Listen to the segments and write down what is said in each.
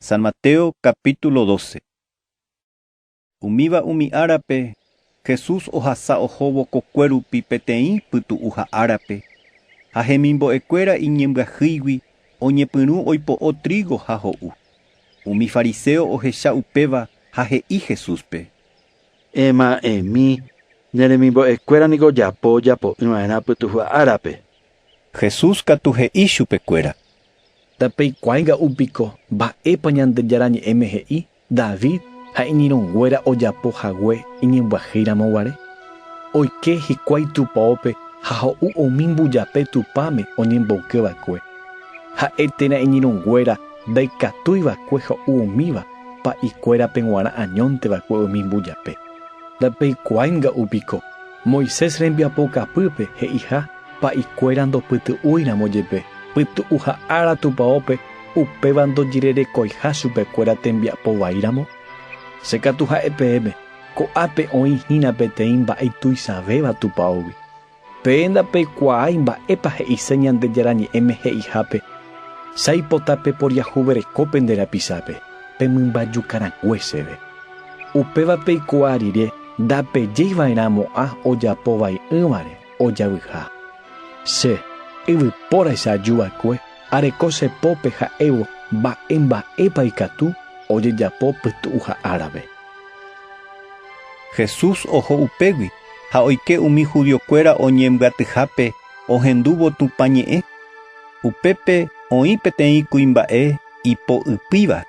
San Mateo capítulo doce. Umíva umi árape, Jesús ohasa ohóvo kokue rupi peteĩ pytu'uha árape, ha hemimbo'ekuéra iñembyahýigui oñepyrũ oipo'o trígo ha ho'u. Umi fariseo ohecha upéva ha he'i Jesúspe. Ema'ẽmi, ne remimbo'ekuéra niko ojapo ojapo'ỹva'erã pytu'uha árape. Jesús katu he'i chupekuéra. Ndapeikuaái ga'u piko mba'épa Ñandejára Ñe'ẽme he'i David ha iñirũnguéra ojapo hague iñembyahéiramo guare? Oike hikuái tupaópe ha ho'u umi mbujape Tupãme oñemboyke va'ekue. Ha'e térã iñirũnguéra ndaikatúi va'ekue ho'u umíva pa'ikuérape g̃uarã añónte va'ekue umi mbujape. Ndapeikuaái ga'u piko. Moisés rembiapo kapýpe he'iha pa'i kuéra ndopytu'úi ramo jepe, pytu'u ha ára tupaópe upéva ndojererekoiha chupe kuéra tembiapo vai ramo? Che katu ha'e peẽme, ko'ápe oĩ hína peteĩ mba'e tuichavéva tupaógui. Peẽ ndapeikuaái mba'épa he'ise Ñandejára Ñe'ẽme he'ihápe, Chaipota peporiahuvereko pende rapichápe, pe mymba juka rãngue chéve. Upéva peikuaa rire ndapejéi va'erã mo'ã ojapo vai'ỹvare ojavyha. Che, yvypóraicha aju va'ekue, areko che pópe ha'évo mba'e mba'épa ikatu ojejapo pytu'uha árape. Jesús oho upégui ha oike umi judiokuéra oñembyatyhápe ohendúvo Tupã ñe'ẽ. Upépe oĩ peteĩ kuimba'e ipo ypýva.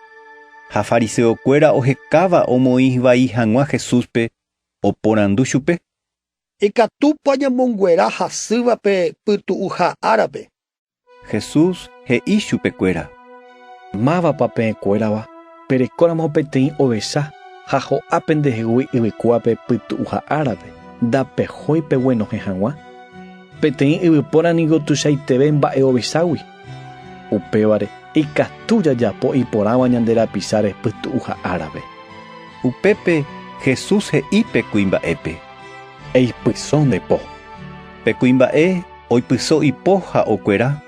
Ha fariseokuéra ohekáva omoĩ vai hag̃ua Jesúspe, oporandu chupe: Ikatúpa ñamonguera hasýva pe pytu'uha árape? Jesús he'i chupekuéra: Mávapa peẽkuérava perekóramo peteĩ ovecha ha ho'a pendehegui yvykuápe pytu'uha árape, ndapehói peguenohẽ hag̃ua? Peteĩ yvypóra ningo tuichaiteve mba'e ovechágui. Upévare, ikatu jajapo iporãva ñande rapicháre pytu'uha árape. Upépe Jesús he'i pe kuimba'épe. Eipyso nde po. Pe kuimba'e oipyso ipo ha okuera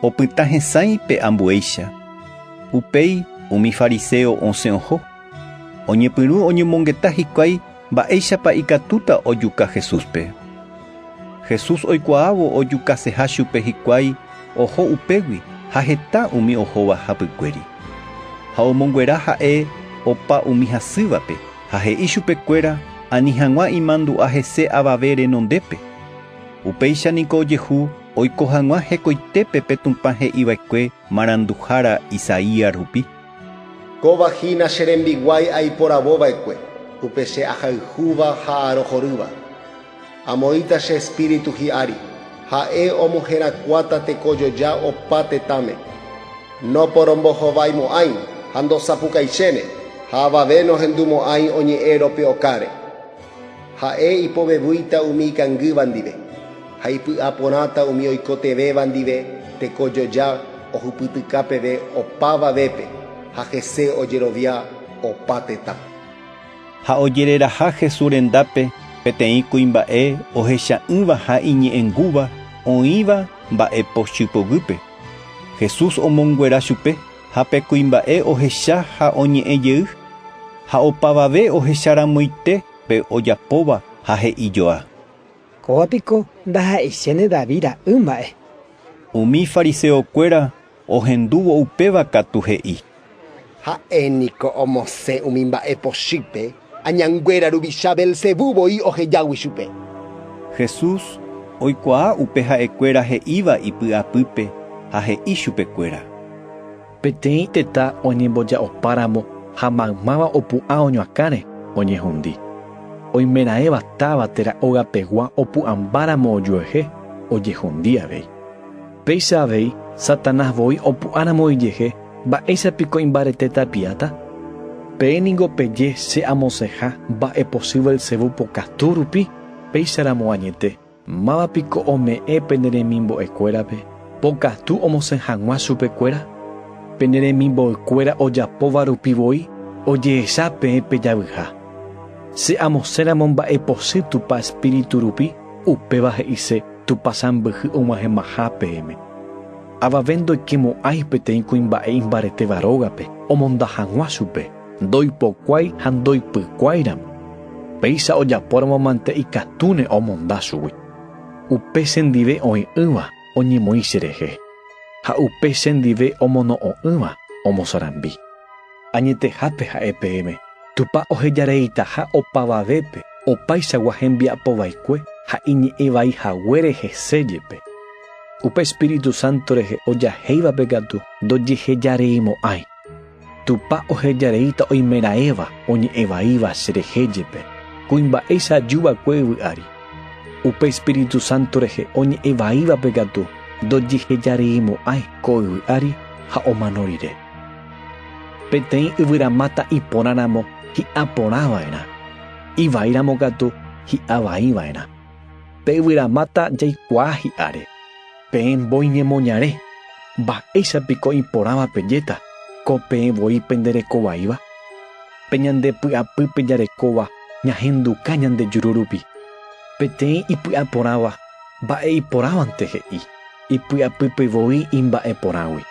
opyta hesãi pe ambuéicha. Upéi umi fariseo osẽ oho, oñepyrũ oñomongeta hikuái Mba'éichapa ikatúta ojuka Jesúspe? Jesús oikuaávo ojukaseha chupe hikuái oho upégui ha heta umi ohóva hapykuéri. Ha omonguera ha'e opa umi hasývape ha he'i chupekuéra ani hag̃ua imandu'a hese avave renondépe. Upéicha niko ojehu oiko hag̃ua hekoitépe pe Tupã he'iva'ekue Maranduhára Isaías rupi. Kóva hína che rembiguái aiporavo va'ekue, upe che ahayhúva ha arohorýva. Amoĩta che Espíritu hi'ári, ha'e omoherakuáta tekojoja opa tetãme. Noporombohovaimo'ãi ha ndosapukaichére, ha avave nohendumo'ãi oñe'ẽro pe okáre. Ha'e ipovevýita umi ikangýva ndive, ha ipy'a porãta umi oikotevẽva ndive teko joja ohupytyka peve opáva vépe, ha hese ojerovia opa tetã. Ha ojereraha Jesús rendápe peteĩ kuimba'e ohecha'ỹva ha iñe'ẽngúva oĩva mba'e pochy poguýpe. Jesús omonguera chupe ha pe kuimba'e ohecha ha oñe'ẽ jey, ha opavave ohecharamoite, Pe ojapóva ha he'ijoa. Kóva piko ndaha'eichéne David ra'y mba'e. Umi fariseo kuéra ohendúvo upéva katu he'i. Ha'e niko omosẽ umi mba'e pochýpe, añanguéra ruvicha Beelzebú voi ohejágui chupe. Jesús oikuaa upe ha'e kuéra he'íva ipy'apýpe ha he'i chupe kuéra. Peteĩ tetã oñemboja'opáramo ha maymáva opu'ã oñoakãre, oñehundi. Oimeraẽva táva térã ógapegua opu'ãmbáramo ojuehe, ojehundi avei. Péicha avei, Satanás voi opu'ãramo ijehe, mba'éicha piko imbarete tapiáta? Peẽ ningo peje che amosẽha mba'epochýva Belzebú pokatu rupi, péicharamo añete. Máva piko ome'ẽ pene remimbo'ekuérape pokatu omosẽ hag̃ua chupekuéra? Pene remimboykuéra ojapóva rupi voi ojehecha peẽ pe javyha. Che amosẽramo mba'epochy Tupã espíritu rupi, upéva he'ise Tupã sãmbyhy og̃uahẽmaha peẽme. Avave ndoike mo'ãi peteĩ kuimba'e imbaretéva rógape omonda hag̃ua chupe. Ndoipokuái ha ndoipykuái ramo, péicha ojapóramo mante ikatúne omonda chugui. Upe chendive oĩ'ỹva oñemoĩ cherehe, ha upe chendive omono'õ'ỹva omosarambi. Añetehápe ha'e peẽme, Tupã ohejareitaha opavavépe opaichagua hembiapo vaikue ha iñe'ẽ vai haguére hese jepe. Upe Espíritu Santo rehe ojahéivape katu ndojehejareimo'ãi. Tupã ohejareíta oimeraẽva oñe'ẽvaíva cherehe jepe, kuimba'éicha aju va'ekue yvy ári. Upe Espíritu Santo rehe oñe'ẽvaívape katu ndojehejareimo'ãi ko yvy ári ha omano rire. Peteĩ yvyramáta iporãramo hi'a porã va'erã, ivaíramo katu hi'a vai va'erã. Pe yvyramáta jaikuaa hi'áre. Peẽ mbói ñemoñare, mba'éicha piko iporãva pejéta ko peẽ voi pende reko vaíva? Pe ñande py'apýpe jarekóva ñahenduka ñande juru rupi. Peteĩ ipy'a porãva mba'e iporãvante he'i ipy'apýpe voi imba'e porãgui.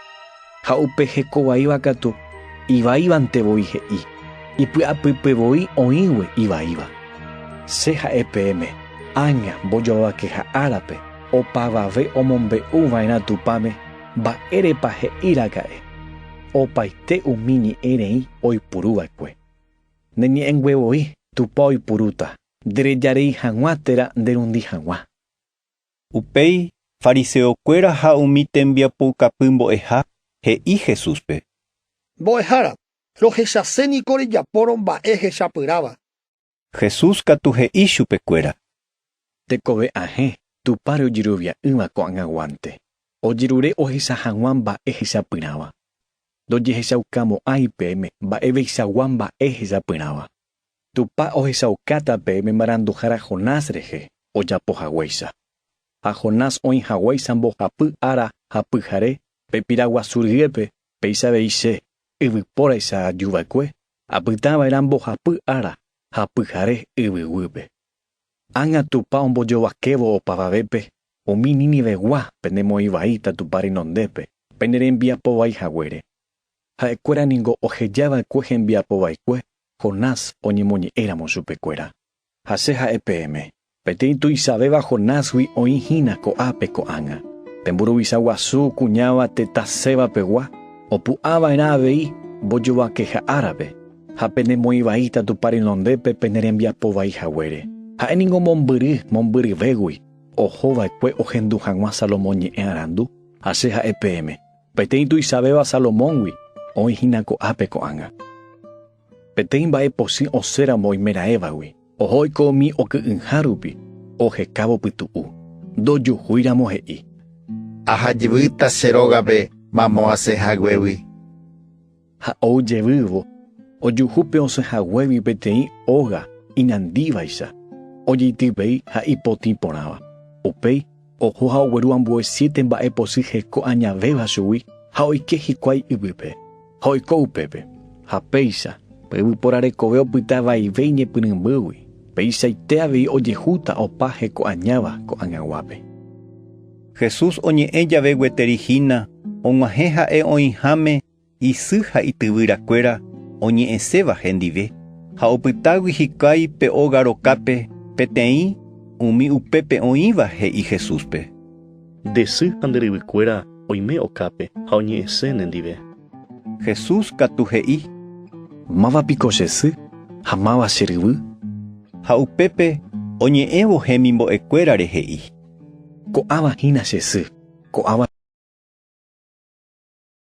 Ha upe hekovaíva katu ivaívante voi he'i, ipy'apýpe voi oĩgue ivaíva. Che ha'e peẽme, ág̃a mbojovavakeha árape opavave omombe'u va'erã Tupãme, mba'érepa he'iraka'e opaite umi ñe'ẽ rei oipuru va'ekue. Nde ñe'ẽngue voi Tupã oipurúta, nderejarei hag̃ua térã nderundi hag̃ua. Upéi fariseokuéra ha umi tembiapoukapy mbo'eha he'i Jesúspe. Mbo'ehára, rohechase niko rejapórõ mba'e hechapyrãva. Jesús katu he'i chupekuéra. Tekove ahẽ, Tupãre ojerovia'ỹva ko'ag̃aguánte, ojerure ohecha hag̃ua mba'e hechapyrãva. Ndojehechaukamo'ãi peẽme mba'eveisagua mba'e hechapyrãva. Tupã ohechaukáta pe Imaranduhára Jonás rehe ojapo haguéicha. Ha Jonás oĩ haguéicha mbohapy ára ha pyhare pe pira guasu ryépe, péicha avei Che, yvypóraicha aju va'ekue, apytã va'erã mbohapy ára ha pyhare yvy guýpe. Ág̃a Tupã ombojovakévo opavavépe umi Nínivegua pende moĩ vaíta Tupã renondépe, pende rembiapo vai haguére. Ha'ekuéra ningo oheja va'ekue hembiapo vaikue Jonás oñemoñe'ẽ ramo chupekuéra. Ha che ha'e peẽme, peteĩ tuichavéva Jonásgui oĩ hína ko'ápe ko'ág̃a. Pe mburuvicha guasu kuñáva tetã Seba pegua, opu'ã va'erã avei mbojovakeha árape, ha pene moĩ vaíta Tupã renondépe pene rembiapo vai haguére. Ha'e ningo mombyry mombyryvégui oho va'ekue ohendu hag̃ua Salomón ñe'ẽ arandu. Ha che ha'e peẽme, Peteĩ tuichavéva Salomóngui oĩ hína ko'ápe ko'ág̃a. Peteĩ mba'e posỹ osẽramo oimeraẽvagui, oho oiko umi oky'ỹha rupi, ohekávo pytu'u, ndojuhúiramo he'i. Ahajyvýta che rógape mamo asẽ haguégui. Ha ou jevývo, ojuhu pe osẽ haguégui peteĩ óga inandívaicha, ojeityvei ha ipotĩ porãva. Upéi oho ha ogueru ambue siete mba'e posy heko añavéva chugui ha oike hikuái yvýpe, ha oiko upépe. Ha péicha, pe yvypóra rekove opyta vaive iñepyrũmbýgui, peichaite avei ojehúta opa heko añáva ko'ag̃aguápe. Jesús oñe'ẽ jave gueteri hína, og̃uahẽ ha'e oĩháme isy ha ityvyra kuéra oñe'ẽséva hendive, ha opytágui hikuái pe óga rokápe peteĩ umi upépe oĩva he'i Jesúspe. Nde sy ha nde ryvy kuéra oime okápe ha oñe'ẽse nendive. Jesús katu he'i. Máva piko che sy ha máva che ryvy? Ha upépe oñe'ẽvo hemimbo'e kuérare he'i. Ko'ãva hína che sy, ko'ãva.